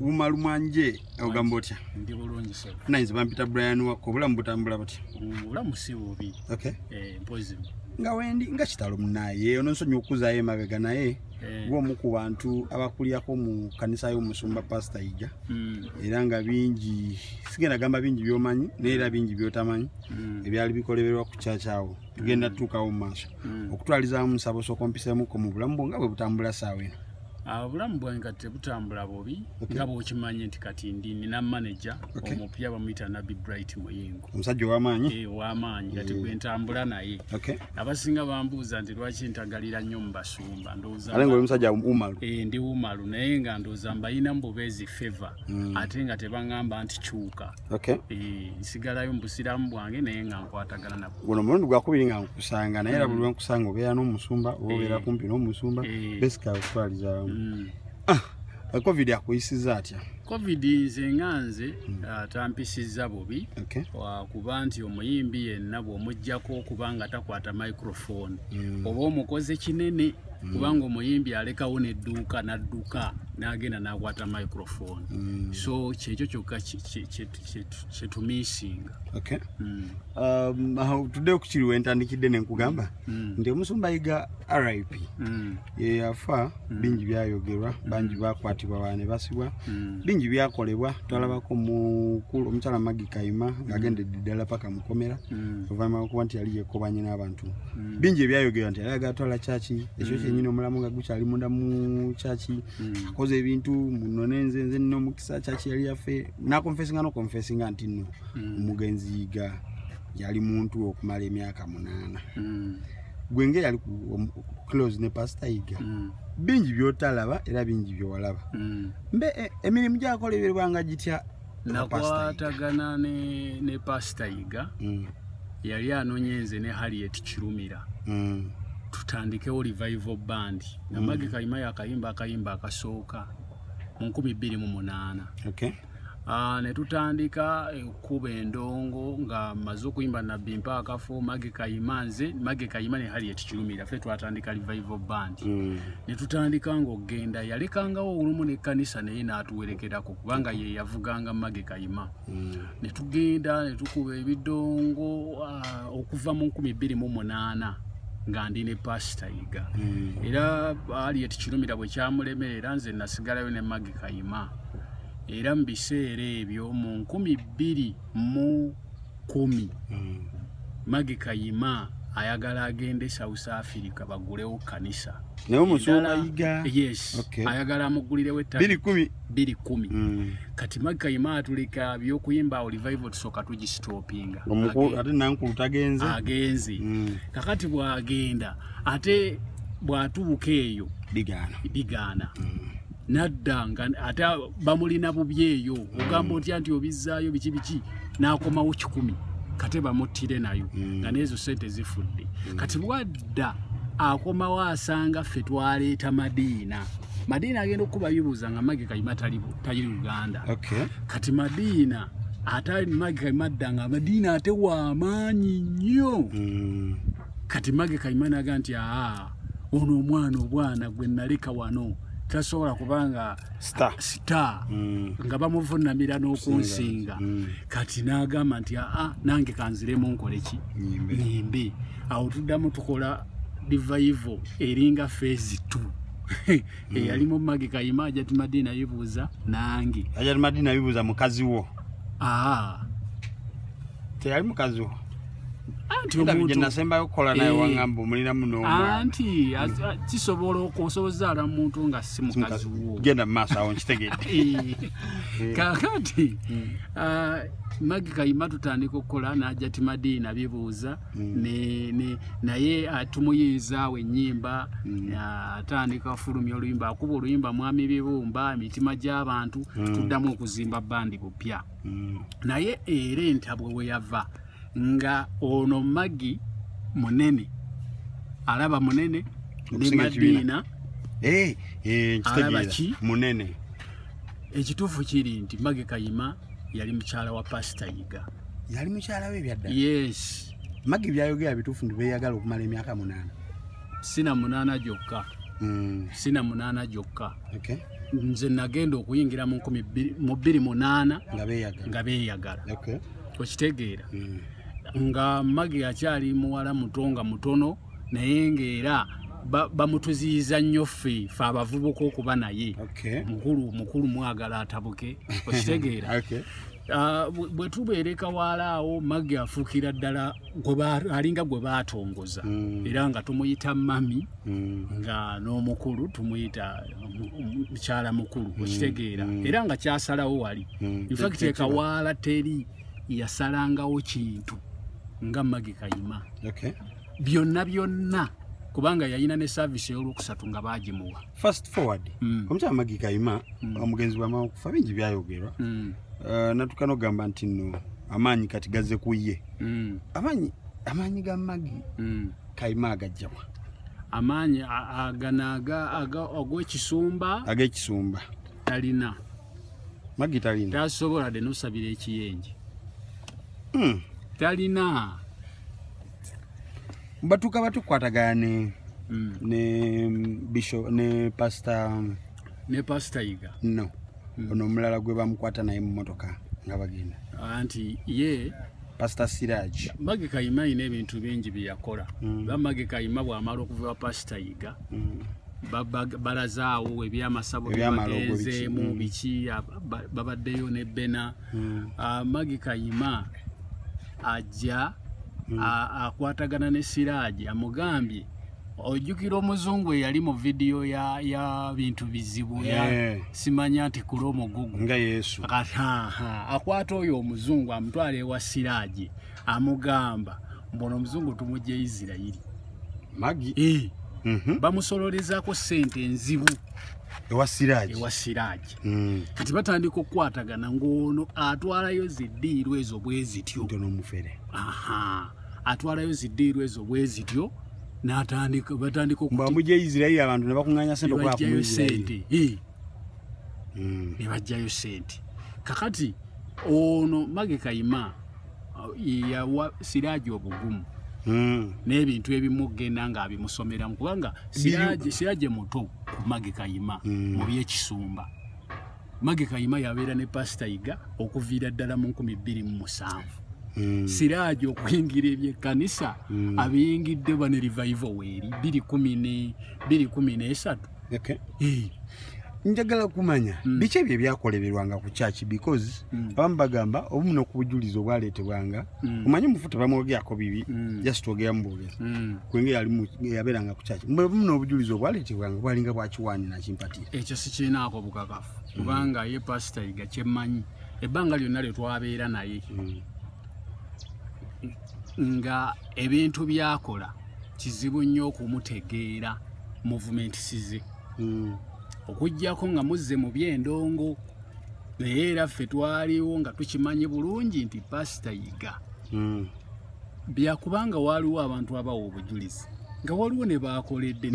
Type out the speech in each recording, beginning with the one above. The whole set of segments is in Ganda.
umalu mwanje ogamba otya ndi bulungi sebo nayinza bampita brian wakko obulamu butambula butya obulamu si bubi okay. eh, mpozi nga wendi nga kitalo munaye ono nsonyi okuzayo emabega naye eh. gwomu ku bantu abakulirako mu kanisa y'omusumba pasita ija mm. era nga bingi sigenda gamba bingi byomanyi naye era bingi byotamanyi mm. ebyali bikoleberwa ku kyakyawo tugenda mm. tutuukawo mu maaso mm. okutwalizamu musabo sokompisemuko mu bulamu bwo nga bwe butambula saawa eno obulamu bwange kati tebutambula bubi nga bwokimanye nti kati ndi nina maneja omupya bamuyita nabi bright muyingo omusajja owamaanyi eh, owamaanyi kati mm. gwentambula naye abasinga bambuuza nti lwaki ntagalira nnyo mu basumba ndoozamusajja umalu eh, ndi umalu naye nga ndooza mbayina mububeezi favor mm. ate nga tebaŋamba nti kyuka okay. e, nsigalayo mubusiramu bwange naye nga nkwatagana nabo guno mulundi gwakubiri nga nkusanga naye era mm. buli wenkusanga obeera n'omusumba oba obeera eh. kumpi n'omusumba eh. besika okutwalizamu mm. ah, covid akuyisiza atya covid nze nga nze hmm. ah, tampisizza bubi kuba nti omuyimbi yenna bw'omugjako okuba nga takwata microphone hmm. oba omukoze kinene mm. kubanga omuyimbi alekawo nedduuka nadduka nagenda nakwata microphone mm. so kyekyo kyokka kyetumisinga mm. um, tudde okukiri wentandikidde nenkugamba nti omusumba yiga rip yeyafa bingi byayogerwa bangi bakwatibwa bane basibwa bingi byakolebwa twalabako mukulu omukyala magi kayima ngaagendedde ddala paka mukomera oluvanyuma lwokuba nti yali yekobanye n'abantu bingi ebyayogerwa nti ayagala twala kyaki ekyo mm. kyenyini omulamu nga gukyali munda mu kyaki mm. akoze ebintu munone nze nze nina omukisa kyaki yali yaffe nakonfesinga nokonfesinga nti no mm. omugenzi yiga yali muntu okumala emyaka munaana gwenge yali close ne pasita yiga bingi byotalaba era bingi byowalaba mbe e, emirimu gyakola ebirbanga gitya nakwatagana ne, ne pasita yiga mm. yali anonye nze ne harriet kirumira mm. tutandikewo revival band namage mm. kalima yakayimba akayimba akasooka mu 228 okay. Ah, ne tutandika ekkuba eh, endongo nga maze okuyimba nabbi mpa akafo mage kayima nze mage kayima ne hali etikirumira ffe twatandika revival band mm. ne tutandika ng'okugenda yalekangawo olumu n'ekkanisa naye n'atuwerekerako kubanga ye yavuganga mage kayima mm. ne tugenda ne tukuba ebidongo ah, okuva mu nkumi bbiri mu munaana nga ndi ne pasita yiga mm. era ali etikirumira bwe kyamulemerera nze nasigalayo ne mage kayima era mu biseera ebyo mu nkumi bbiri mu kumi mm. magi kayima ayagala agende south africa bagulewo kanisa naye omusumba yiga yes okay. ayagala amugulirewo ettaka kumi biri kumi mm. kati magi kayima atuleka byokuyimba awo revival tusooka tugisitopinga ate nankulu tagenze agenze mm. kakati bwagenda ate bwatubuka eyo bigaana bigaana mm. nadda nga ate bamulina bubi eyo ogamba otya nti obizzaayo biki biki n'akomawo kikumi kate bamuttire nayo hmm. nga neezo sente zifudde hmm. kati bwadda akomawo asanga ffe twaleeta madiina madiina agenda okukuba bibuuza nga magi kayima tali uganda kati madiina ate magi kayima adda nga madiina ate wamaanyi nnyo hmm. kati magi kayima naga nti aa ono omwana obwana gwe naleka wano tasobola kubanga star mm. nga bamuvunamira n'okunsinga mm. kati n'agamba nti aa nange kanziremu nkoleki nyimbe awo tuddamu tukola divaivo eringa fezi t eyali mu magi kayima ajati madiina yibuuza nange ajati madiina yibuuza mukazi wo aa teyali mukazi wo anti omuntu nasembayo kola naye eh. wangamba omulina muno anti kisobola okusoboza ala muntu nga si mukazi wo genda maso awo nkitegedde eh. eh. kakati hmm. ah, magi kayima tutandika okukola naja ti madiina bibuuza hmm. naye atumuyinzaawo ah, enyimba hmm. ah, atandika afulumya oluyimba akuba oluyimba mwami bibumba emitima gy'abantu tuddamu okuzimba bandi bupya mm. naye era entabwe weyava nga ono magi munene alaba munene ne madiina eh, eh, alaba ki munene ekituufu kiri nti magi kayima yali mukyala wa pasita yiga yali mukyala we ebyadda yes magi byayogera bituufu nti beyagala okumala emyaka munaana sina munaana gyokka mm. sina munaana gyokka okay. nze nagenda okuyingira mu nkumi mu bbiri munaana nga beeyagala okitegeera hmm. nga magi akyali muwala muto nga mutono naye ngaera bamutuziyiza nnyo ffe fe abavubuka okuba naye mukulu mukulu mwagala atabuke okitegeera ah, bwe tubeereka waalaawo magi afuukira ddala alinga gwe baatongoza mm. era nga tumuyita mami mm. nga n'omukulu tumuyita mukyala mukulu mm. okitegeera era nga kyasalawo wali infact ekawaala teri yasalangawo kintu nga magi kayima byonna byonna kubanga yayina ne service eyolwokusatu nga bagimuwa fast forward omukyala magi kayima omugenzi bwamawukufa bingi byayogerwa uh, natuka nogamba nti no amaanyi kati gaze ku ye mm. amaanyi amaanyi ga magi mm. kalima agajjawa amaanyi aganaga agwekisumba agekisumba talina magi talina tasobola de nosabira ekiyenje mm. talina batuka batukwatagana ne mm. ne bisho ne pasta ne pasta iga no hmm. ono omulala gwe bamukwata naye mu motoka nga bagenda anti ye pastor siraj mage kayima alina ebintu bingi byeyakola hmm. ba mage kayima bwamala okuva pasita yiga hmm. balazaawo ebyamasabo byebagenzeemu biki babaddeyo ne bena ah, mage kayima ajja akwatagana ne siraaji amugambye ojjukira omuzungu eyali mu vidiyo ya, ya bintu bizibu yeah. Eh. simanya nti kula omugugu nga yesu akwata oyo omuzungu amutwala ewa siraagi amugamba mbono omuzungu tumujja e isirairi magi e. Eh. mm -hmm. bamusololezako sente enzibu ewa siraagi ewa siraagi mm. kati batandika okukwatagana ng'ono atwalayo ziddiirwa ezo bwe zityo atwalayo ziddiirwa ezo bwe zityo natandika batandika okuba mujja Israeli abantu ne bakunganya sente kwa ku sente eh mm. ne bajja yo sente kakati ono mage kayima ya wa siraji obugumu mm. n'ebintu ebimu genda nga abimusomera mukubanga siraji siraji muto mage kayima mm. mu byekisumba mage kayima yabeera ne pasita yiga okuviira ddala mu 207 hmm. siraaji okuyingira ebyekkanisa hmm. abiyingidde bane rivivo weeri 213 njagala kumanya hmm. biki ebyo ebyakoleberwanga ku kyaki because abamu bagamba obumu nokubujulizi obwaleetebwanga mm. omanyi mufu tebamwogerako bibi mm. just twogera mubwogezi mm. kwenge yali yabeeranga kukyaki muna obujulizi obwaletebwanga bwalinga bwakiwaani nakimpatira ekyo sikiinaako bukakafu mm. kubanga mm. ye pasita yiga kyemmanyi ebbanga lyonna lye twabeera naye mm. nga ebintu byakola kizibu nnyo okumutegeera muvumenti size mm. okugyako nga muzze mu byendongo naye era ffe twaliwo nga tukimanyi bulungi nti pasita yiga hmm. byakubanga waaliwo abantu abawa obujulizi nga waliwo ne baakoledde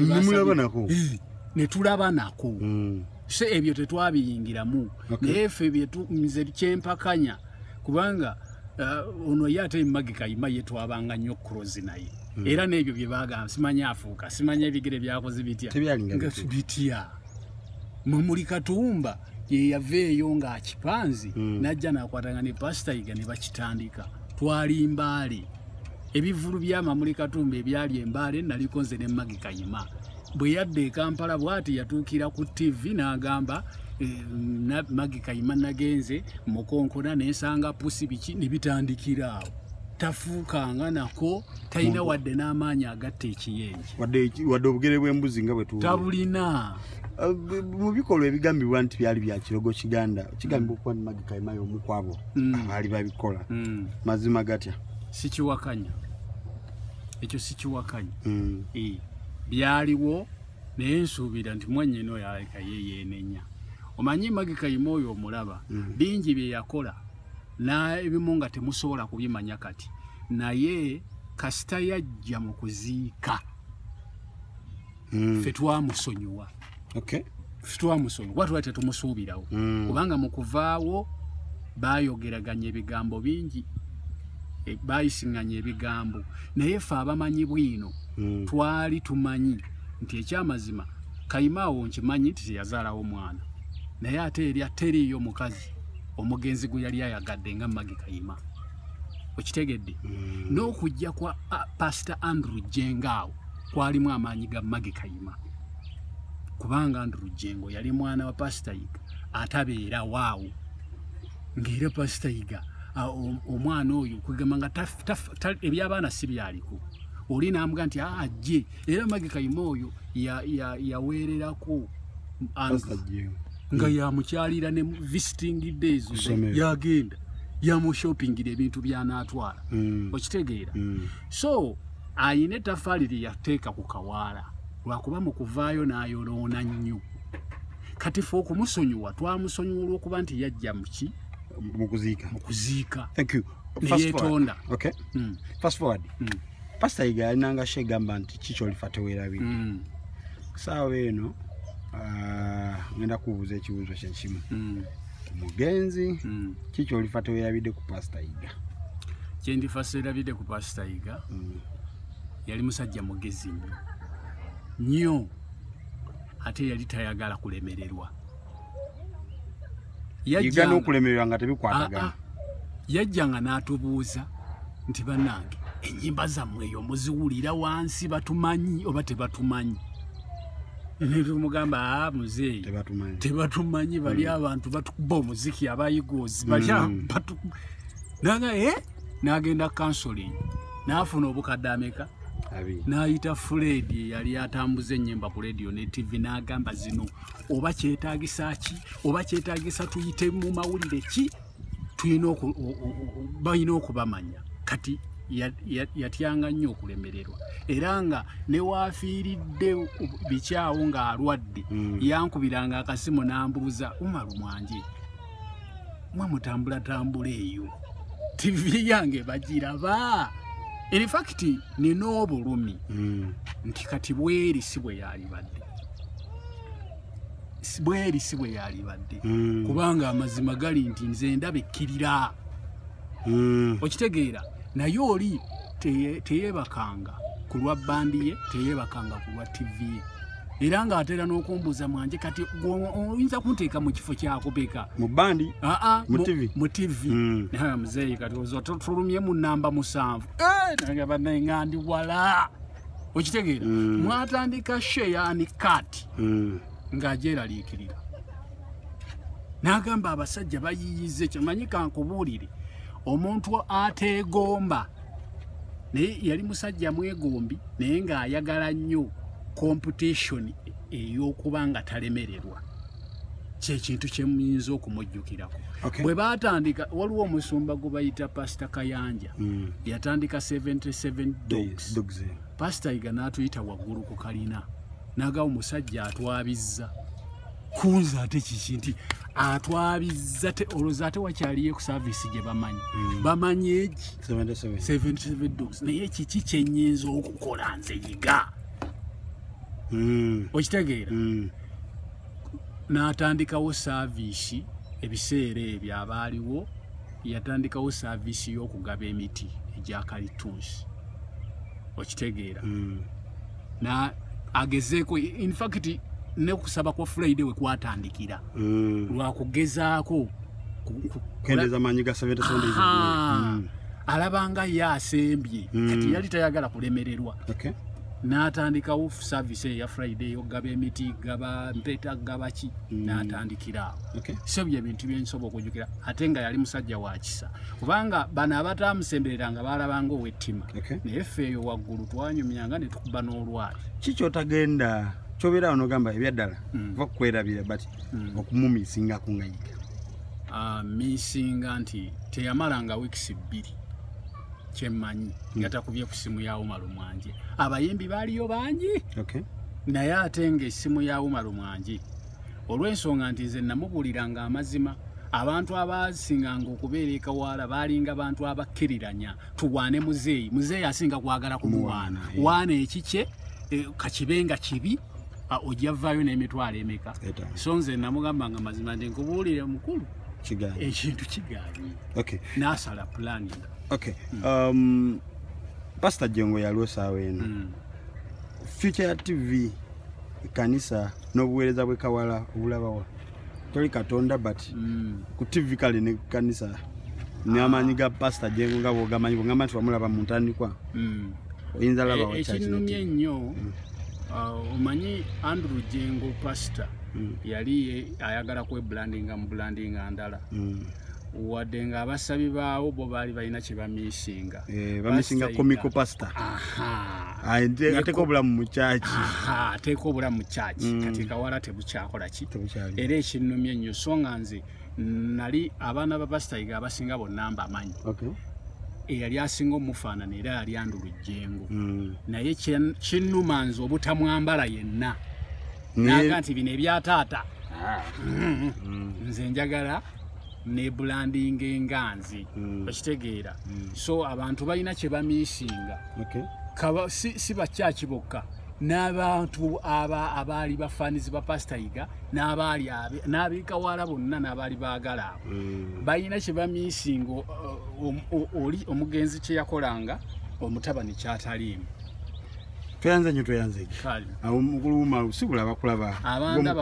netulaba nako hmm. se ebyo tetwabiyingiramu naye ffe nze kyempakanya kubanga uh, ono ye ate magika ima ye twabanga nnyo kurozi naye hmm. era n'ebyo bye bagamba simanya afuuka simanya ebigere byakoze bitya bitya mwe muli katumba yeyava eyo ng'akipanzi mm. najja nakwatanga ne pasita yiga ne bakitandika twali mbaale ebivulu byamamuli katumba ebyali embaale naliko nze ne magi kayima bwe yadda e kampala bwati yatuukira ku tv n'agamba eh, magi kayima nagenze mukonkona nensanga pusi biki ne bitandikira awo tafuukanga nako talina wadde n'amaanyi agatta ekiyenje wadde obugere bw'embuzi nga bwetabulina uh, mu bikolwa ebigambibwa nti byali bya kirogo kiganda kigambibwa okuba ni magi kaimayo omu kwabo mm. abaali babikola mm. mazima gatya sikiwakanya ekyo sikiwakanya mm. eh, byaliwo naye nsuubira nti mwanyina oyo aleka ye yeenenya omanyi magi kayima oyo omulaba bingi bye yakola n'ebimu nga temusobola kubimanya kati naye kasita yajja mu kuziika mm. fe twamusonyiwa okay. twamusonyiwa kuba tuba tetumusuubirawo mm. kubanga mu kuvaawo bayogeraganya ebigambo bingi e, bayisinganya ebigambo naye fe abamanyi bwino mm. twali tumanyi nti ekyamazima kayima awo nkimanyi nti teyazaalawo mwana naye ate erya teriiyo mukazi omugenzi gwe yali ayagadde nga magi kayima okitegedde mm. n'okujja kwa uh, pastor andrew jenga awo kwalimu amaanyi ga magi kayima kubanga andrew jengo yali mwana wa pasita yiga atabeera waawo ngaera pasita yiga omwana oyo kwegamba nga ebyabaana si byaliko oli naambuga nti ajje ah, era magi kayima oyo yaweererako nga yamukyalira ne visiting days yagenda yamushoppingira ebintu byanaatwala hmm. okitegeera hmm. so ayina etafaali lyeyateeka ku kawaala lwakuba mu kuvaayo n'ayoloona nnyo kati fe okumusonyiwa twamusonyiwa olwokuba nti yajja muki mukuziika mukuziika neyetonda okay. mm. fast forward mm. pasita yiga yalinanga sha egamba nti kikyolifa tewerabire mm. saawa eno ah, ngenda kubuuza ekibuuzo kyekimu mm. omugenzi mm. kikyolifa tewerabide ku pasita yiga kyendifa serabide ku pasita yiga yali musajja mugezi nyo nyo ate yali tayagala kulemererwa yajjanga n'okulemererwa nga tebikwatagana ah, ah. yajjanga n'atubuuza nti bannange ennyimba zammwe eyo muziwulira wansi batumanyi oba tebatumanyi tumugamba ah, muzeeyi tebatumanyi bali hmm. abantu batukuba omuziki abayigoozi hmm. naga e eh? nagenda counseling nafuna obukadde ameka nayita fred eyali atambuza enyemba ku radio ne tv nagamba zino oba kyetagisa ki oba kyetagisa tuyite mu mawulire ki tulina balina okubamanya kati yatyanga nnyo okulemererwa era nga newaafiiridde bikyawo ng'alwadde hmm. yankubiranga akasimu n'ambuuza umaru mwanje mwe mutambulatambula eyo tivi yange bagiraba infakiti nina obulumi hmm. nti kati bweri si bwe yalibadde bweri si bwe yalibadde hmm. kubanga amazima gali nti nze ndaba ekkirira hmm. okitegeera naye oli teyebakanga ku lwa bandi ye teyebakanga ku lwa tivi ye era ng'atera n'okumbuuza mwanje kati oyinza kunteeka mu kifo kyakubeka mu bandi aa mu tivi hmm. muzeeyi kati oza tulumye mu namba musanvu eh, nagamba naye nga ndi wala okitegeera mm. mwatandika sheyani kat mm. ng'agyeraliikirira n'agamba abasajja bayiyiza ekyo manyi kankubuulire omuntu ateegomba naye yali musajja mwegombi naye ng'ayagala nnyo komputishoni ey'okuba nga talemererwa kyekintu kyemuyinza okumujjukirako bwe batandika waliwo omusumba gwe bayita pasita kayanja hmm. yatandika 77 dogs eh. pasita yiga n'atuyita waggulu ku kalina naga omusajja atwabizza kunza ate kiki nti atwabizza olwoza ate wakyaliyo ku saavisi gye bamanyi hmm. bamanyi egi 77 dogs naye kiki kyenyinza okukola nze yiga hmm. okitegeera n'atandikawo saaviisi ebiseera ebyo abaaliwo yatandikawo saaviisi y'okugaba emiti egya kalitunsi okitegeera mm. na agezeeko infact ne kusaba kwa friday we kwatandikira mm. lwa kugezaako kendeza manyi ga seven sunday mm. alabanga ye asembye mm. kati yali tayagala kulemererwa okay. n'atandikawo service eya friday eyokugaba emiti gaba mpeta gaba ki mm. n'atandikiraawo okay. so bye bintu byensobola okujukira ate nga yali musajja wa kisa kubanga bano abataamusemberera nga baalabanga owettima okay. naye ffe eyo waggulu twanyumyanga ne tukuba n'olwali kikyotagenda kyobeera awo nogamba ebyaddala mm. va kukwerabira but mm. okumumisinga kungayiga uh, ah, misinga nti teyamalanga wiikisi bbiri kyemmanyi hmm. nga takubye ku ssimu ya umaru mwangi abayimbi baaliyo bangi naye ate nga essimu ya umaru mwangi olw'ensonga nti nze namubuuliranga amazima abantu abaasinganga okubeera ekawaala baalinga bantu abakkiriranya tuwaane muzeeyi muzeeyi asinga kwagala kumuwaana waana ekikye e, kakibe nga kibi ojja vaayo n'emitwalo emeka so nze namugamba nga mazima ndi nkubuulire mukulu kigaanye ekintu kigaanye okay nasala plan okay mm. um pastor jengo yalwo sawa eno mm. future tv kanisa n'obuweereza bwe kawala obulabawa toli katonda but mm. ku tv kale ne kanisa n'amaanyi ga pasita jengo nga bwogamanyi bwogamba nti wamulaba mu ntandikwa mm. oyinza laba e, ekinumye ennyo mm. uh, omanyi andrew jengo pasita mm. yali ayagala kwebulandinga mu bulandinga ndala mm. wadde nga abasabi baawo bo baali balina kyebamisinga eh, bamisinga comical pastor ateeka obulamu mu kyaki ateeka obulamu mu kyaki mm. kati kawala tebukyakola ki era ekinnumya ennyo so nga nze nali abaana ba pasitayiga abasinga bonna mba amanyi eyali asinga omufaanana era yali andulujjengo mm. naye kinnuma nze obutamwambala yenna naga nti bino ebya taata ah. mm. nze njagala nebulandinga enganzi mm. okitegeera mm. so abantu balina kyebamisinga si bakyaki bokka n'abantu abaali bafanizi ba pasitayiga n'abeekawala bonna n'abaali baagala abo balina kyebamisinga uh, um, oli omugenzi kyeyakolanga omutabani kyataliimu tweyanze nyo tweyanze awo mukulu umaru sibula bakulaba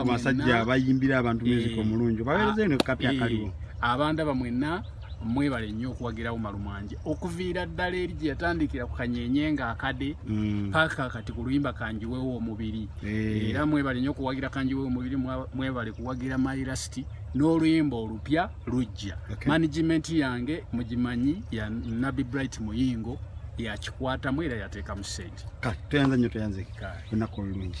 masajja bayimbira abantu eh. music omulungi bawereze eno kapi eh. akaliwo abanda bamwena mwebale nnyo okuwagira umaru mwanje okuviira ddala eri gye yatandikira ku kanyenye nga akade mm. paka kati ku luyimba kanjiwewo omubiri eh. era mwebale nnyo okuwagira kanjiwewo omubiri mwebale kuwagira mylasiti n'oluyimba olupya lujja management yange mugimanyi ya nabi bright muyingo yakikwatamu era yateekamu sente kale tweyanza nnyo tweyanzeki olunaku olulungi